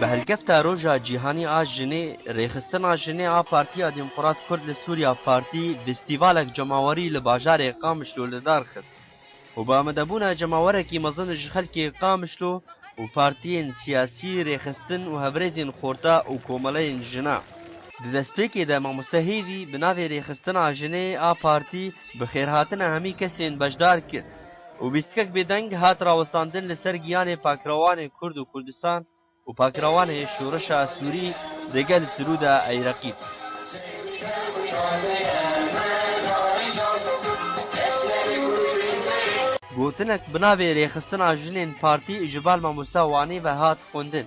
Bi hilkefta Roja Cîhanî a Jinê, Rêxistina Jinê a Partiya Demokrat Kurd li Sûriya Partî festîvalek cemawerî li bajarê Qamişlo li dar xist û bi amadebûna cemawerekî mezin ji xelkê Qamişlo û partiyên siyasî, rêxistin û hevrêzên xorta û komeleyên jinan. Di destpêkê de Mamoste Hêvî bi navê Rêxistina Jinê a Partî bi xêrhatina hemî kesên beşdar kir. û bîstikek bêdeng hat rawestandin li ser giyanê pakirawanê Kurd û Kurdistan û pakirawanê şoreşa Sûrî degel Sirûda Eyreqîb. Gotinek bi navê Rêxistina Jinên Partî ji bal mamosta Wanê ve hat xwendin.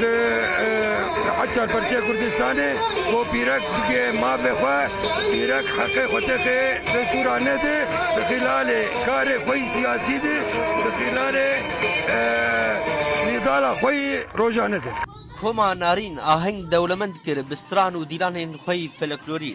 Li Hecar Partiya Kurdistanê ku pîrek bike mafê xwe, pîrek heqê xwe tê xê destûra nede, di xîlalê karê xwe yî siyasî de, di xîlalê nîdala xwe yî rojane de. Koma Narîn aheng dewlemend kir bi stran û dîlanên xwe yî foleklorî.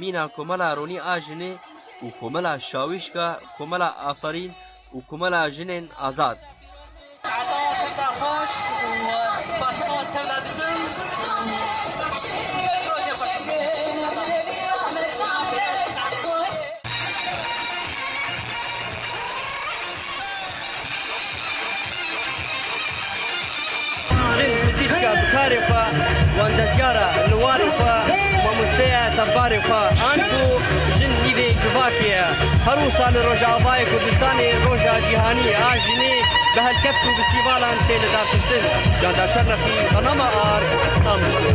Mîna Komela Ronî a Jinê û Komela Şawîşka Komela Aferîn û Komela Jinên Azad. Jin pizîşka bi karê xwe, wandezyara li warê xwe, mamosteya tevbarê xwe an ku jin nîvê civakê ye. Her wisa li Rojavayê Kurdistanê Roja Cîhanî a Jinê bi helkeft û festîvalan tê lidarxistin. Canda Şernexî, Panama Ark, Qamişlo.